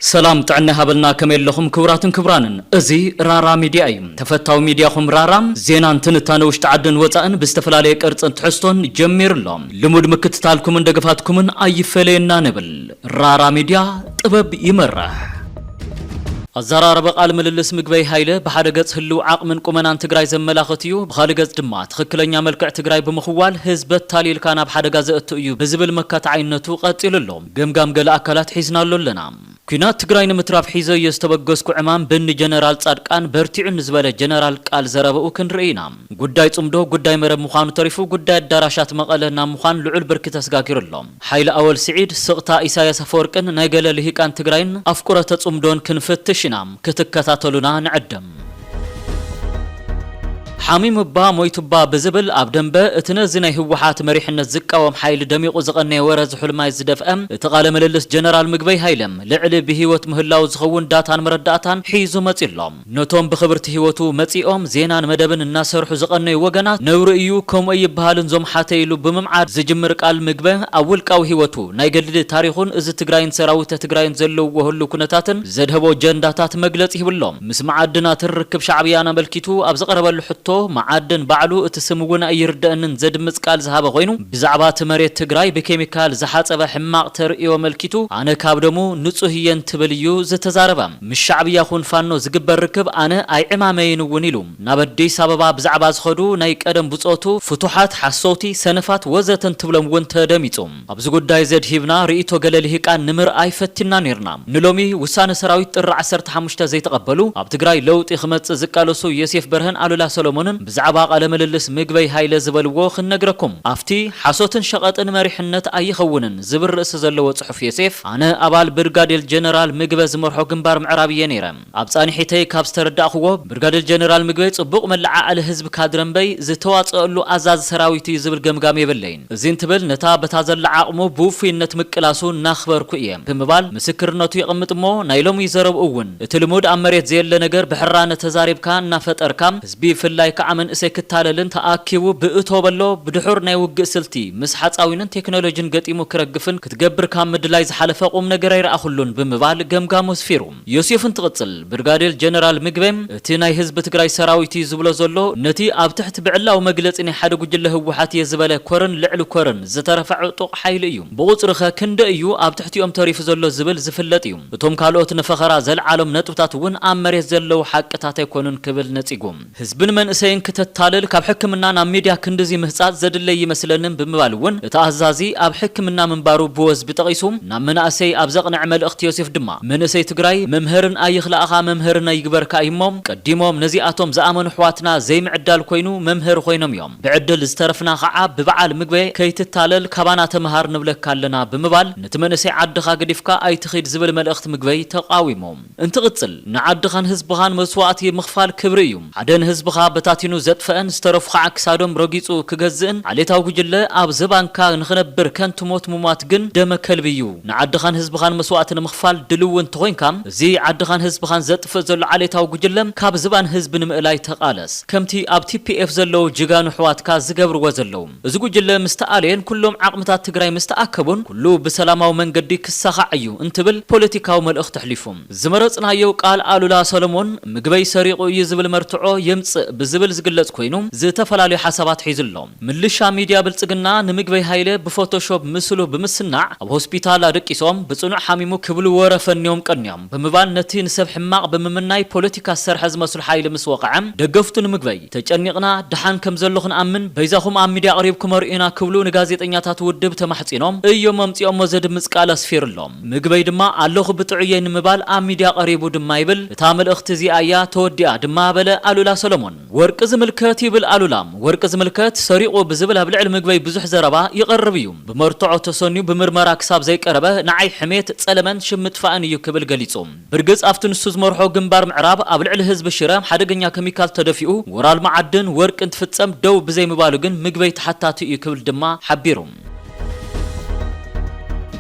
ሰላም ጥዕና ሃበልና ከመይ ኣለኹም ክቡራትን ክቡራንን እዚ ራራ ሚድያ እዩ ተፈታዊ ሚድያኹም ራራ ዜናን ትንታነ ውሽጢ ዓድን ወፃእን ብዝተፈላለየ ቅርፅን ትሕዝቶን ጀሚሩ ኣሎ ልሙድ ምክትታልኩምን ደገፋትኩምን ኣይፈለየና ንብል ራራ ሚድያ ጥበብ ይመርሕ! ኣዘራርባ ቃል ምልልስ ምግበይ ሃይለ ብሓደ ገፅ ህልው ዓቕምን ቁመናን ትግራይ ዘመላኽት እዩ፣ ብኻሊእ ገፅ ድማ ትኽክለኛ መልክዕ ትግራይ ብምኽዋል ህዝቢ ኣታሊልካ ናብ ሓደጋ ዘእቱ እዩ ብዝብል መካትዓይነቱ ቐፂሉ ኣሎ። ገምጋም ገለ ኣካላት ሒዝናሉ ኣለና። ኲናት ትግራይ ንምትራፍ ሒዘዮ ዝተበገስኩ ዕማም ብኒ ጀነራል ፃድቃን በርቲዑ ንዝበለ ጀነራል ቃል ዘረበኡ ክንርኢ ኢና። ጉዳይ ፅምዶ ጉዳይ መረብ ምዃኑ ተሪፉ ጉዳይ ኣዳራሻት መቐለ ናብ ምዃን ልዑል ብርኪ ተስጋጊሩ ኣሎ። ሓይለ ኣወል ስዒድ፣ ስቕታ ኢሳያስ ኣፈወርቅን ናይ ገለ ልሂቃን ትግራይን ኣፍቁረተ ጽምዶን ክንፍትሽ ኢና፣ ክትከታተሉና ንዕድም። ሓሚሙባ ሞይቱባ ብዝብል ኣብ ደምበ እቲ ነዚ ናይ ህወሓት መሪሕነት ዝቃወም ሓይሊ ደሚቑ ዝቐነየ ወረ ዝሑልማይ ዝደፍአ እቲ ቃለ ምልልስ ጀነራል ምግበይ ሃይለ ልዕሊ ብህይወት ምህላዉ ዝኸውን ዳታን መረዳእታን ሒዙ መጺኡ ኣሎ። ነቶም ብኽብርቲ ህይወቱ መጺኦም ዜናን መደብን እናሰርሑ ዝቐነዩ ወገናት ነውሪ እዩ ከምኡ ኣይብሃልን ዞም ሓተይ ኢሉ ብምምዓድ ዝጅምር ቃል ምግበ ኣብ ውልቃዊ ህይወቱ፣ ናይ ገድሊ ታሪኹን እዚ ትግራይን ሰራዊተ ትግራይን ዘለውዎ ህሉው ኩነታትን ዘድሀቦ ጀንዳታት መግለጺ ሂቡ ኣሎ። ምስ መዓድናትን ርክብ ሻዕብያን ኣመልኪቱ ኣብ ዝቐረበሉ ሕቶ መዓድን ባዕሉ እቲ ስም እውን ኣይርደእንን ዘድምጽ ቃል ዝሃበ ኮይኑ ብዛዕባ እቲ መሬት ትግራይ ብኬሚካል ዝሓጸበ ሕማቕ ተርእዮ ኣመልኪቱ ኣነ ካብ ደሙ ንጹህ እየ እንትብል እዩ ዝተዛረበ። ምስ ሻዕብያ ኹን ፋኖ ዝግበር ርክብ ኣነ ኣይዕማመይን እውን ኢሉ። ናብ ኣዲስ ኣበባ ብዛዕባ ዝኸዱ ናይ ቀደም ብፆቱ ፍቱሓት፣ ሓሰውቲ፣ ሰነፋት ወዘተ እንትብሎም እውን ተደሚፁ። ኣብዚ ጉዳይ ዘድሂብና ርኢቶ ገለ ልሂቃን ንምርኣይ ፈቲንና ነይርና። ንሎሚ ውሳነ ሰራዊት ጥሪ ዓሰርተ ሓሙሽተ ዘይተቐበሉ ኣብ ትግራይ ለውጢ ክመፅእ ዝቃለሱ ዮሴፍ በርሀን ኣሉላ ሰሎሞንን ብዛዕባ ቃለ ምልልስ ምግበይ ሃይለ ዝበልዎ ክንነግረኩም። ኣፍቲ ሓሶትን ሸቐጥን መሪሕነት ኣይኸውንን። ዝብል ርእሲ ዘለዎ ጽሑፍ ዮሴፍ፣ ኣነ ኣባል ብርጋዴል ጀነራል ምግበ ዝመርሖ ግንባር ምዕራብ እየ ነይረ። ኣብ ጻንሒተይ ካብ ዝተረዳእኩዎ፣ ብርጋዴል ጀነራል ምግበይ ጽቡቕ መለዓዓሊ ህዝቢ ካድረ እምበይ፣ ዝተዋጽኣሉ ኣዛዚ ሰራዊት እዩ ዝብል ገምጋም የብለይን። እዚ እንትብል ነታ በታ ዘላ ዓቕሙ ብውፉይነት ምቅላሱ እናኽበርኩ እየ። ብምባል ምስክርነቱ የቐምጥ እሞ፣ ናይ ሎሚ ዘረብኡ እውን እቲ ልሙድ ኣብ መሬት ዘየለ ነገር ብሕራነ ተዛሪብካ እናፈጠርካ፣ ብፍላይ ከኣ መንእሰይ ክታለልን ተኣኪቡ ብእቶ በሎ ብድሑር ናይ ውግእ ስልቲ ምስ ሓጻዊንን ቴክኖሎጂን ገጢሙ ክረግፍን ክትገብር ካብ ምድላይ ዝሓለፈ ቁምነገር ኣይረኣኹሉን ብምባል ገምጋሙ ኣስፊሩ። ዮሴፍ እንትቕጽል፣ ብርጋዴር ጀነራል ምግበ፣ እቲ ናይ ህዝቢ ትግራይ ሰራዊት'ዩ ዝብሎ ዘሎ፣ ነቲ ኣብ ትሕቲ ብዕላዊ መግለጺ ናይ ሓደ ጉጅለ ህወሓት'የ ዝበለ ኮርን ልዕሊ ኮርን ዝተረፈ ዕጡቕ ሓይሊ እዩ። ብቑጽሪ'ኸ ክንደይ'ዩ ኣብ ትሕቲኦም ተሪፉ ዘሎ ዝብል ዝፍለጥ'ዩ። እቶም ካልኦት ንፈኸራ ዘልዓሎም ነጥብታት እውን ኣብ መሬት ዘለዉ ሓቅታት ኣይኮኑን ክብል ነጺጉ። ህዝብን መንእሰይን ክተታልል ካብ ሕክምና ናብ ሚድያ ክንድዚ ምህጻጽ ዘድለይ እይመስለንን ብምባል እውን እቲ ኣዛዚ ኣብ ሕክምና ምንባሩ ብወዝቢ ጠቒሱ ናብ መናእሰይ ኣብ ዘቕንዐ መልእኽቲ ዮሴፍ ድማ መንእሰይ ትግራይ መምህርን ኣይኽላእኻ መምህርን ኣይግበርካ እዩ እሞ ቀዲሞም ነዚኣቶም ዝኣመኑ ኣሕዋትና ዘይምዕዳል ኮይኑ መምህር ኾይኖም እዮም ብዕድል ዝተረፍና ኻዓ ብበዓል ምግበ ከይትታለል ካባና ተምሃር ንብለካ ኣለና ብምባል ነቲ መንእሰይ ዓድኻ ገዲፍካ ኣይትኺድ ዝብል መልእኽቲ ምግበይ ተቓዊሙ እንትቕጽል፣ ንዓድኻን ህዝብኻን መስዋእቲ ምኽፋል ክብሪ እዩ፣ ሓደ ንህዝብኻ በታቲኑ ዘጥፈኣን ዝተረፉ ኸኣ ክሳዶም ረጊጹ ክገዝእን ዓሌታዊ ጉጅለ ኣብ ዝባንካ ንኽነብር ከንቱ ሞት ምሟት ግን ደመ ከልቢ እዩ፣ ንዓድኻን ህዝብኻን መስዋእቲ ንምኽፋል ድልዊ እንተኾይንካ እዚ ዓድኻን ህዝብኻን ዘጥፍእ ዘሎ ዓሌታዊ ጉጅለ ካብ ዝባን ህዝቢ ንምእላይ ተቓለስ፣ ከምቲ ኣብ TPF ዘለዉ ጅጋኑ ኣሕዋትካ ዝገብርዎ ዘለዉ። እዚ ጉጅለ ምስ ተኣለየን ኩሎም ዓቕምታት ትግራይ ምስ ተኣከቡን ኩሉ ብሰላማዊ መንገዲ ክሳኻዕ እዩ እንትብል ፖለቲካዊ መልእኽቲ ኣሕሊፉ። ዝመረፅናዮ ቃል ኣሉላ ሰለሞን ምግበይ ሰሪቑ እዩ ዝብል መርትዖ የምፅእ ብዝብል ዝግለፅ ኮይኑ ዝተፈላለዩ ሓሳባት ሒዙ ኣሎ። ምልሻ ሚድያ ብልፅግና ንምግበይ ሃይለ ብፎቶሾብ ምስሉ ብምስናዕ ኣብ ሆስፒታል ኣደቂሶም ብፅኑዕ ሓሚሙ ክብሉ ወረ ፈንዮም ቀንዮም ብምባል ነቲ ንሰብ ሕማቕ ብምምናይ ፖለቲካ ዝሰርሐ ዝመስሎ ሓይሊ ምስ ወቐዐ ደገፍቱ ንምግበይ ተጨኒቕና ደሓን ከም ዘሎ ክንኣምን በይዛኹም ኣብ ሚድያ ኣቕሪብኩም ኣርእዩና ክብሉ ንጋዜጠኛታት ውድብ ተማሕጺኖም እዮም ኣምጺኦሞ ዘድምጽ ቃል ኣስፊሩ ኣሎ። ምግበይ ድማ ኣለኹ ብጥዑየይ ንምባል ኣብ ሚድያ ቀሪቡ ድማ ይብል እታ መልእኽቲ እዚኣ እያ ተወዲኣ ድማ በለ ኣሉላ ሰሎሞን። ወርቂ ዝምልከት ይብል ኣሉላ ወርቂ ዝምልከት ሰሪቑ ብዝብል ኣብ ልዕሊ ምግበይ ብዙሕ ዘረባ ይቐርብ እዩ። ብመርትዖ ተሰንዩ ብምርመራ ክሳብ ዘይቀረበ ንዓይ ሕሜት፣ ጸለመን ሽም ምጥፋእን እዩ ክብል ገሊጹ። ብርግጽ ኣብቲ ንሱ ዝመርሖ ግንባር ምዕራብ ኣብ ልዕሊ ህዝቢ ሽረ ሓደገኛ ከሚካል ተደፊኡ ወራል መዓድን ወርቂ እንትፍጸም ደው ብዘይምባሉ ግን ምግበይ ተሓታቲ እዩ ክብል ድማ ሓቢሩ።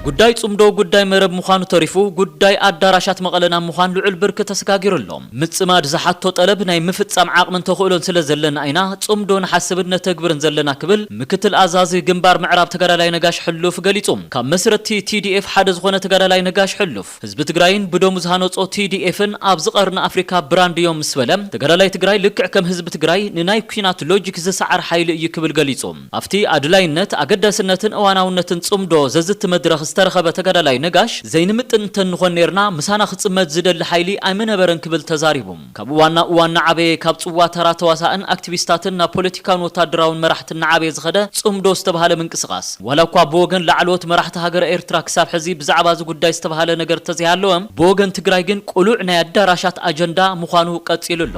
ጉዳይ ጽምዶ ጉዳይ መረብ ምዃኑ ተሪፉ ጉዳይ ኣዳራሻት መቐለ ናብ ምዃን ልዑል ብርኪ ተሰጋጊሩ ኣሎ። ምጽማድ ዝሓቶ ጠለብ ናይ ምፍጻም ዓቕምን ተኽእሎን ስለ ዘለና ኢና ጽምዶ ንሓስብን ነተግብርን ዘለና ክብል ምክትል ኣዛዚ ግንባር ምዕራብ ተጋዳላይ ነጋሽ ሕሉፍ ገሊጹ። ካብ መስረትቲ TDF ሓደ ዝኾነ ተጋዳላይ ነጋሽ ሕሉፍ፣ ህዝቢ ትግራይን ብደሙ ዝሃነፆ ቲዲኤፍን ኣብዚ ቐርኒ ኣፍሪካ ብራንድ እዮም ምስ በለ፣ ተጋዳላይ ትግራይ ልክዕ ከም ህዝቢ ትግራይ ንናይ ኲናት ሎጂክ ዝሰዓር ሓይሊ እዩ ክብል ገሊፁ። ኣብቲ ኣድላይነት፣ ኣገዳስነትን እዋናውነትን ፅምዶ ዘዝቲ መድረኽ ዝተረኸበ ተጋዳላይ ነጋሽ፣ ዘይንምጥን እንተንኾን ነይርና ምሳና ክፅመድ ዝደሊ ሓይሊ ኣይምነበረን ክብል ተዛሪቡ። ካብ እዋን ናብ እዋን እናዓበየ፣ ካብ ፅዋ ተራ ተዋሳእን ኣክቲቪስታትን ናብ ፖለቲካውን ወታደራውን መራሕቲ እናዓበየ ዝኸደ ፅምዶ ዝተብሃለ ምንቅስቓስ፣ ዋላ እኳ ብወገን ላዕለዎት መራሕቲ ሃገረ ኤርትራ ክሳብ ሕዚ ብዛዕባ እዚ ጉዳይ ዝተብሃለ ነገር እንተዘይሃለወ፣ ብወገን ትግራይ ግን ቅሉዕ ናይ ኣዳራሻት ኣጀንዳ ምዃኑ ቀፂሉ ኣሎ።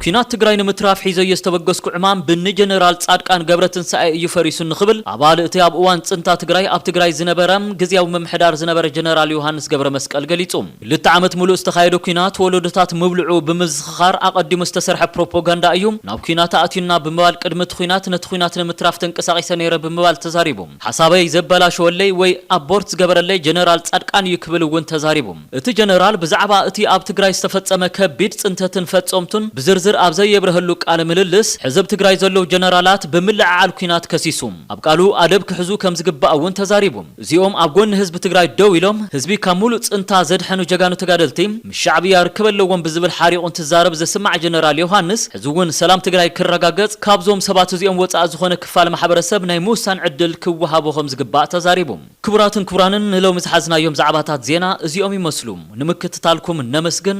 ኲናት ትግራይ ንምትራፍ ሒዘዮ ዝተበገስኩ ዕማም ብኒ ጀነራል ፃድቃን ገብረትንሳኤ እዩ ፈሪሱ እንክብል ኣባል እቲ ኣብ እዋን ፅንታ ትግራይ ኣብ ትግራይ ዝነበረ ግዝያዊ ምምሕዳር ዝነበረ ጀነራል ዮሃንስ ገብረመስቀል ገሊፁ። ክልተ ዓመት ምሉእ ዝተኻየደ ኲናት ወለዶታት ምብልዑ ብምዝኽኻር ኣቐዲሙ ዝተሰርሐ ፕሮፖጋንዳ እዩ፣ ናብ ኲናት ኣእትዩና ብምባል ቅድሚ እቲ ዂናት ነቲ ዂናት ንምትራፍ ተንቀሳቒሰ ነይረ ብምባል ተዛሪቡ። ሓሳበይ ዘበላሸወለይ ወይ ኣቦርት ዝገበረለይ ጀነራል ፃድቃን እዩ ክብል እውን ተዛሪቡ። እቲ ጀነራል ብዛዕባ እቲ ኣብ ትግራይ ዝተፈፀመ ከቢድ ፅንተትን ፈፀምቱን ብዝርዝር ኣብ ዘየብረሀሉ ቃለ ምልልስ ሕዚ ኣብ ትግራይ ዘለዉ ጀነራላት ብምልዕዓል ኲናት ከሲሱ ኣብ ቃሉ ኣደብ ክሕዙ ከምዝግባእ እውን ተዛሪቡ። እዚኦም ኣብ ጎኒ ህዝቢ ትግራይ ደው ኢሎም ህዝቢ ካብ ሙሉእ ፅንታ ዘድሐኑ ጀጋኑ ተጋደልቲ ምስ ሻዕብያ ርክብ ኣለዎም ብዝብል ሓሪቑ እንትዛረብ ዝስማዕ ጀነራል ዮውሃንስ ሕዚ እውን ሰላም ትግራይ ክረጋገፅ ካብዞም ሰባት እዚኦም ወፃኢ ዝኾነ ክፋል ማሕበረሰብ ናይ ምውሳን ዕድል ክወሃቦ ከምዝግባእ ተዛሪቡ። ክቡራትን ክቡራንን ንሎሚ ዝሓዝናዮም ዛዕባታት ዜና እዚኦም ይመስሉ። ንምክትታልኩም ነመስግን።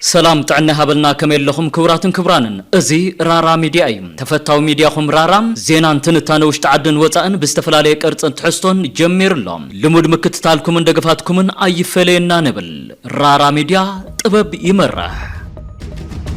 ሰላም ጥዕና ይሃበልና ከመይ ኣለኹም ክቡራትን ክቡራንን እዚ ራራ ሚድያ እዩ ተፈታዊ ሚድያኹም ራራ ዜናን ትንታነ ውሽጢ ዓድን ወፃእን ብዝተፈላለየ ቅርፅን ትሕዝቶን ጀሚሩ ኣሎ ልሙድ ምክትታልኩምን ደገፋትኩምን ኣይፈለየና ንብል ራራ ሚድያ ጥበብ ይመርሕ።